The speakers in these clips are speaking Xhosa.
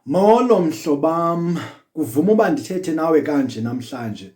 Molo mhlobam, kuvuma uba ndithethe nawe kanje namhlanje.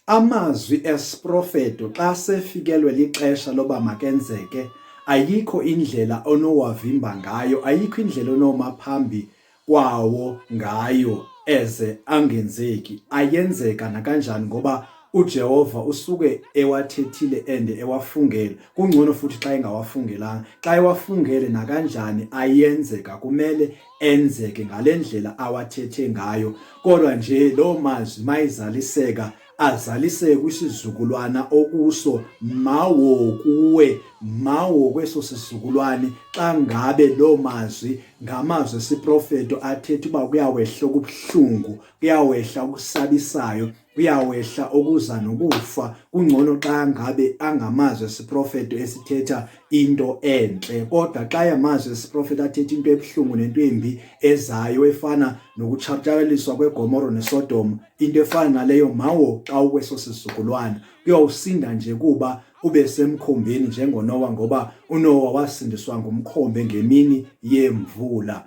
Amazwi esiprofeto xa sefikelwe lixesha loba makenzeke, ayikho indlela onowavimba ngayo, ayikho indlela onoma phambi kwawo ngayo eze angenzeki. Ayenzeka nakanjani ngoba uJehova usuke ewathethile and ewafungele kungcono futhi xa engawafungelanga xa ewafungele nakanjani ayenzeka kumele enzeke ngale ndlela awathethe ngayo kodwa nje loo mazwi mayizaliseka azaliseke kwisizukulwana okuso mawo kuwe mawo kweso sizukulwane xa ngabe loo mazwi ngamazwi esiprofeto athetha uba kuyawehla okubuhlungu kuyawehla okusabisayo uyawehla okuza nokufa kungcono xa ngabe angamazi esiprofeto esithetha into entle kodwa xa yamazi esiprofeto athetha into ebuhlungu nento embi ezayo efana nokutshatyaliswa kwegomoro nesodom into efana naleyo mawo xa ukweso sizukulwana kuyawusinda nje kuba ube semkhombeni njengonowa ngoba unowa wasindiswa ngumkhombe ngemini yemvula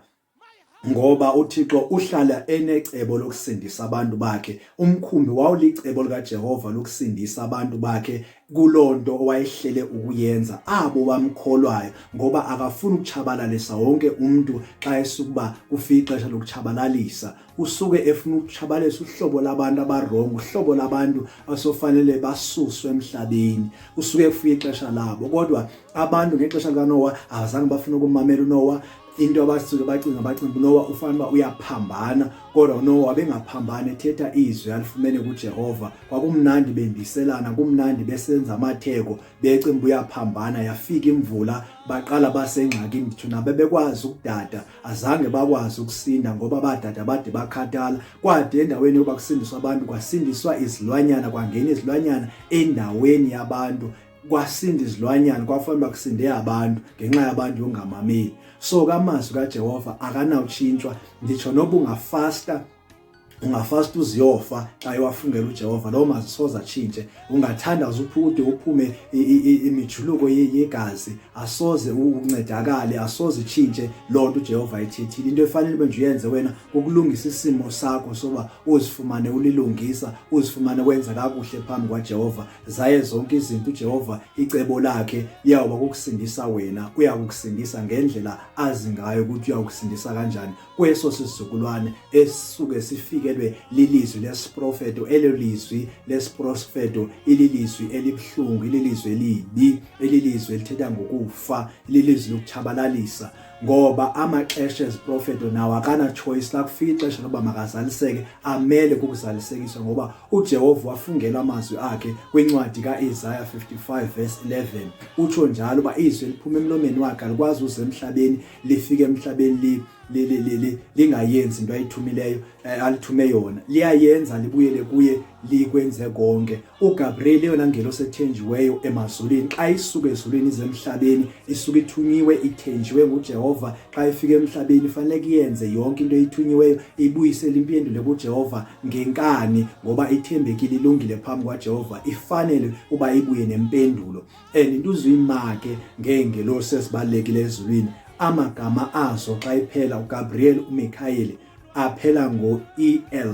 ngoba uThixo uhlala enecebo lokusindisa abantu bakhe umkhumbi wawulicebo likaJehova lokusindisa abantu bakhe kulonto owayehlele ukuyenza abo bamkholwayo ngoba akafuni ukuchabalalisa wonke umuntu xa esukuba kufika ixesha lokuchabalalisa usuke efuna ukutshabalisa uhlobo labantu abarongo uhlobo labantu asofanele basuswe emhlabeni usuke efuye ixesha labo kodwa abantu ngexesha likaNowa abazange bafuna ukumamela uNowa into abasuke bacinga bacinga uNowa ufanele uba uyaphambana kodwa uNowa wabengaphambani ethetha izwi alifumene kuJehova kwakumnandi bendiselana kumnandi besenza amatheko becimba uyaphambana yafika imvula baqala basengxakini ndithu nabebekwazi ukudada azange bakwazi ukusinda ngoba badada bade bakhathala kwade endaweni yokuba kusindiswa abantu kwasindiswa izilwanyana kwangena izilwanyana endaweni yabantu kwasinda izilwanyana kwafanele bakusinde abantu ngenxa yabantu yongamameli so kamazwi kaJehova akanawutshintshwa nditsho noba ungafasta ungafast uziyofa xa ewafungela uJehova lowo mazisoza atshintshe ungathanda uzuphude uphume imijuluko yegazi asoze uncedakale asoze itshintshe loo nto uJehova ayithethile into efanele ube nje uyenze wena kukulungisa isimo sakho soba uzifumane ulilungisa uzifumane wenza kakuhle phambi kwaJehova zaye zonke izinto uJehova icebo lakhe liyawuba kukusindisa wena uyakukusindisa ngendlela azi ngayo ukuthi uyakusindisa kanjani kweso sizukulwane esisuke sifikelwe lilizwi lesiprofeto elo lizwi lesiprofeto ililizwi elibuhlungu ililizwi elibi ililizwi elithetha ngokufa ililizwi lokutshabalalisa ngoba amaxesha eziprofeto nawo akana-choice la kufika ixesha loba makazaliseke amele kukuzalisekiswa ngoba ujehova wafungela amazwi akhe kwincwadi ka-isaya 55 verse 11 utsho njalo uba izwi eliphuma emlomeni wakhe alikwazi uze emhlabeni lifike emhlabeni lingayenzi into ayithumileyo eh, alithume yona liyayenza libuyele kuye likwenze konke uGabriel eyona ngelo sethenjiweyo emazulwini xa isuke ezulwini izemhlabeni isuke ithunyiwe ithenjiwe nguJehova xa ifika emhlabeni fanele kuyenze yonke into eyithunyiweyo ibuyisele impendule kuJehova ngenkani ngoba ithembekile ilungile phambi kwaJehova ifanele uba ibuye nempendulo and into uzuyimake ngeengelosi ezibalulekile ezulwini amagama azo xa iphela uGabriel uMikhayeli aphela ngo-EL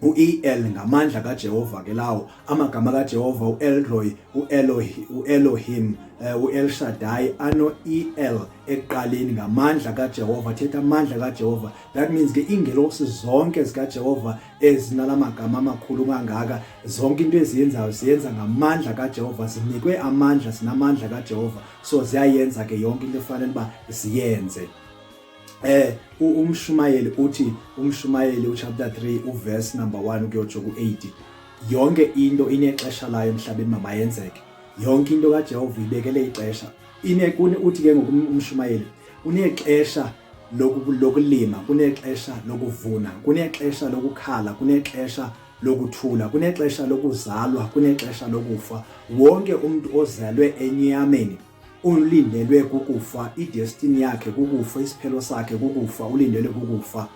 u-EL ngamandla kaJehova ke lawo amagama kaJehova uElroy uElohi uElohim eh, uEl Shaddai ano EL eqaleni ngamandla kaJehova thetha amandla kaJehova that means ke ingelosi zonke zikaJehova ezinala magama amakhulu kangaka zonke into eziyenzayo ziyenza ngamandla kaJehova zinikwe amandla zinamandla kaJehova so ziyayenza ke yonke into efanele uba ziyenze eh umshumayeli uthi umshumayeli uchapter 3 uverse number 1 kuyotsho ku8 yonke into inexesha layo emhlabeni mamayenzeke yonke into kaJehova ibekele ixesha inekuni uthi ke ngokumshumayeli unexesha lokulima kunexesha lokuvuna kunexesha lokukhala kunexesha lokuthula kunexesha lokuzalwa kunexesha lokufa wonke umuntu ozelwe enyameni ulindelwe kukufa idestiny yakhe kukufa isiphelo sakhe kukufa ulindelwe kukufa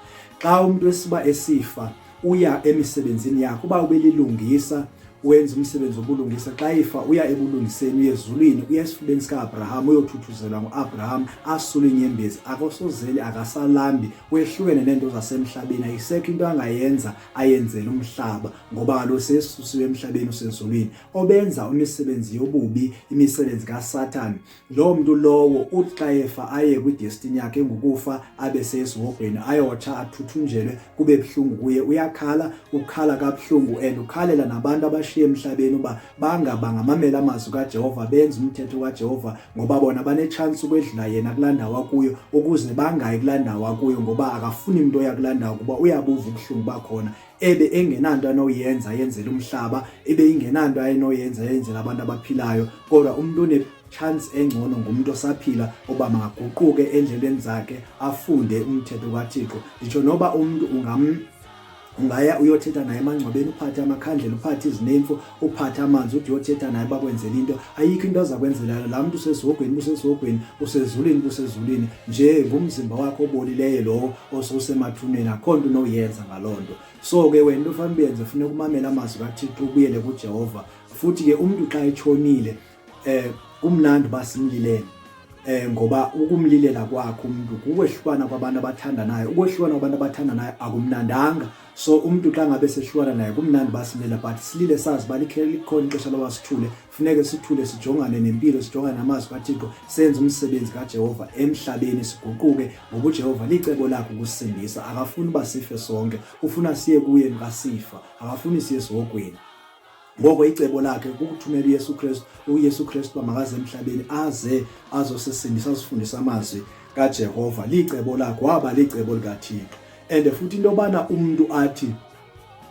xa umuntu esiba esifa uya emisebenzini yakho uba ubelilungisa wenza umsebenzi wobulungisa xa ifa uya ebulungiseni uye ezulwini uya esifubeni sika-abraham uyothuthuzelwa ngu-abraham asule inyembezi akosozeli akasalambi wehlukene neento zasemhlabeni ayisekho into angayenza ayenzele umhlaba ngoba kaloku sesusiwe emhlabeni usezulwini obenza imisebenzi yobubi imisebenzi kasathane loo mntu lowo uthi xa efa aye kwidestini yakhe engukufa abe sesihogweni ayotsha athuthunjelwe kube buhlungu kuye uyakhala ukhala kabuhlungu and ukhalela nabantu abashiye emhlabeni uba bangaba ngamamela amazwi kajehova benze umthetho kajehova ngoba bona banetshansi ukwedlula yena kulaa ndawo akuyo ukuze bangayi kulaa ndawo akuyo ngoba akafuni mntu oya kulaa ndawo kuba uyabuva ubuhlungu bakhona ebe engenanto anoyenza yenzela umhlaba ebe ingenanto ayenoyenza yenzela abantu abaphilayo kodwa umuntu one chance engcono ngumuntu osaphila oba makaguquke endleleni zakhe afunde umthetho kaThixo nditsho noba umuntu ungam ungaya uyothetha naye emangcwabeni uphathe amakhandlela uphathe izinemfu uphathe amanzi uthi yothetha naye bakwenzela into ayikho into aza kwenzela laa mntu usesihogweni busesihogweni usezulwini busezulwini nje ngumzimba wakho obolileyo lowo osewusemathuneni akho nto unoyenza ngaloo nto so ke wena into ofanele uyenze funeka umamele amazwi kathixo ubuyele kujehova futhi ke umntu xa etshonile eh kumnandi basimlilele eh ngoba ukumlilela kwakho umuntu kukwehlukana kwabantu abathandanayo ukwehlukana kwabantu abathandanayo akumnandanga so umuntu xa ngabe sehlukana naye kumnandi basilela but silile sazi balikhona ixesha loba sithule funeke sithule sijongane nempilo sijongane namazwi kathixo senze umsebenzi kajehova emhlabeni siguquke ngoba ujehova licebo lakhe ukusindisa akafuni uba sife sonke ufuna siye kuye nikasifa akafuni siye esihogweni ngoko icebo lakhe kukuthumela uyesu kristu uyesu kristu uba makaze emhlabeni aze azosisindisa azifundisa amazwi kajehova licebo lakhe waba licebo likathixo and futhi into yobana umntu athi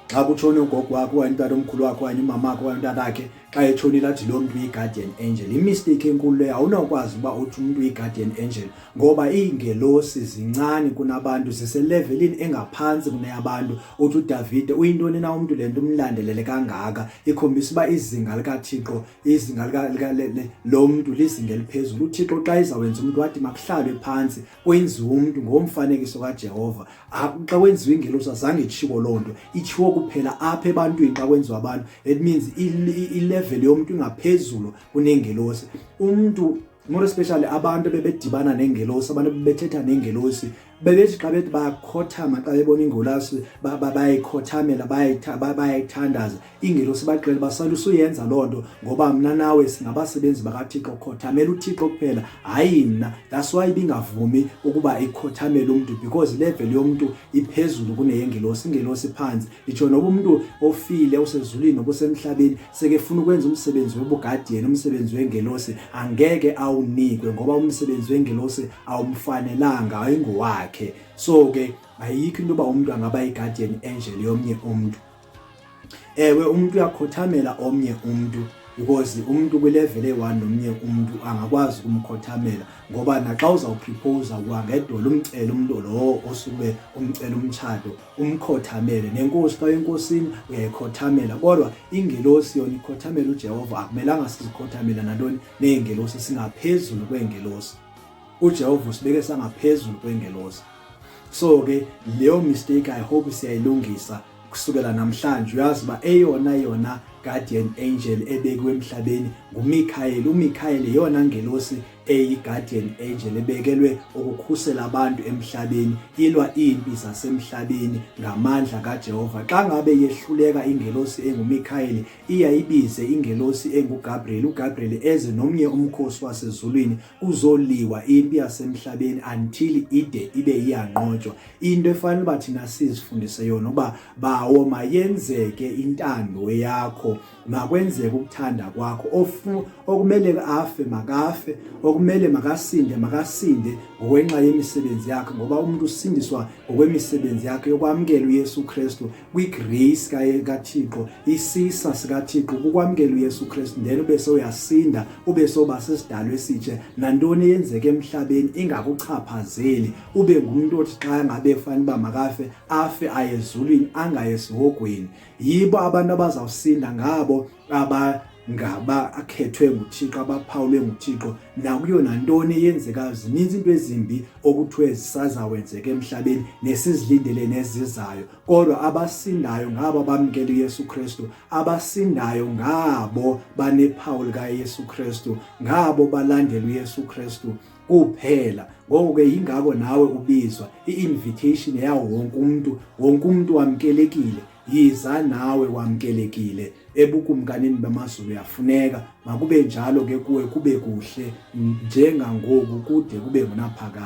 xa kutshone ugogo wakho okanye umntana omkhulu wakho okanye umama wakho okanye umntana wakhe xa etshonile athi loo mntu uyi-guardian angel imisteyikhi enkulu leyo awunawukwazi uba uthi umntu uyi-guardian angel ngoba iingelosi zincane kunabantu ziselevelini engaphantsi kuneyabantu uthi udavide uyintoni na umntu le nto umlandelele kangaka ikhombisa uba izinga likathixo izinga lo mntu lizinga eliphezulu uthixo xa izawenza umntu wathi makuhlalwe phantsi kwenziwe umntu ngomfanekiso kajehova xa kwenziwa ingelosi azange itshiwo loo nto itshiwo kuphela apha ebantwini xa kwenziwa abantu it means ilevel yomntu ingaphezulu kunengelosi umntu more especially abantu bebedibana nengelosi abantu bebethetha nengelosi bebethi xa bethi bakhothama xa bebona ingolasi bayayikhothamela bayayithandaza ingelosi baxele basalusa uyenza loo nto ngoba mna nawe singabasebenzi bakathixo khothamela uthixo kuphela hayi mna that's why ibingavumi ukuba ikhothamele umntu because ilevel yomntu iphezulu kuneyengelosi ingelosi phantsi itsho noba umntu ofile usezulwini nobusemhlabeni sekefuna ukwenza umsebenzi wobugadiyeni umsebenzi wengelosi angeke awunikwe ngoba umsebenzi wengelosi awumfanelanga ayingowakhe so ke ayikho into yoba umntu angaba yigadiyeni enjeli yomnye umntu ewe umntu uyakhothamela omnye umntu because umuntu kwilevel eyi-one nomnye umuntu angakwazi ukumkhothamela ngoba naxa uzawuphiphowuza kuhangedolo umcele umntu lowo osube umcela umtshato umkhothamele nenkosi xa enkosini uyayikhothamela kodwa ingelosi yona ikhothamela uJehova akumelanga sizikhothamela nantoni neengelosi singaphezulu kweengelosi uJehova usibeke sangaphezulu kweengelosi so ke leyo mistake i hope siyayilungisa kusukela namhlanje uyazi ba eyona yona guardian angel ebekwe emhlabeni nguMichael uMichael iyona ngelosi eyi-guardian angel ebekelwe ukukhusela abantu emhlabeni ilwa iimpi zasemhlabeni ngamandla kajehova xa ngabe yehluleka ingelosi engumikhayeli iyayibize ingelosi engugabriel ugabriel eze nomnye umkhosi wasezulwini kuzoliwa impi yasemhlabeni until ide ibe iyanqotywa into efanele uba thina sizifundise yona uba bawo mayenzeke intando yakho makwenzeke ukuthanda kwakho ofu okumele afe makafe okumele makasinde makasinde ngokwenxa yemisebenzi yakhe ngoba umuntu usindiswa ngokwemisebenzi yakhe yokwamukela uYesu Kristu kwigrace kaThixo isisa sikaThixo kukwamukela uYesu Kristu then ube soyasinda ube soba sesidalo esitshe nantoni eyenzeke emhlabeni ingakuchaphazeli ube ngumuntu othi xa ngabe efanele uba makafe afe ayezulwini angayesihogweni yibo abantu abazawusinda ngabo aba ngaba akhethwe nguThixo abaphawulwe nguThixo nakuyo nantoni eyenzekayo zininzi into ezimbi okuthiwe zisazawenzeka emhlabeni nesizilindele nezizayo kodwa abasindayo ngabo abamkela uYesu Kristu abasindayo ngabo banephawu likaYesu Kristu ngabo balandela uYesu Kristu kuphela ngoko ke yingako nawe ubizwa i-invitation yawo wonke umntu wonke umntu wamkelekile yiza nawe wamkelekile ebukumkanini bamazulu yafuneka makube njalo ke kuwe kube kuhle njengangoku kude kube ngunaphakade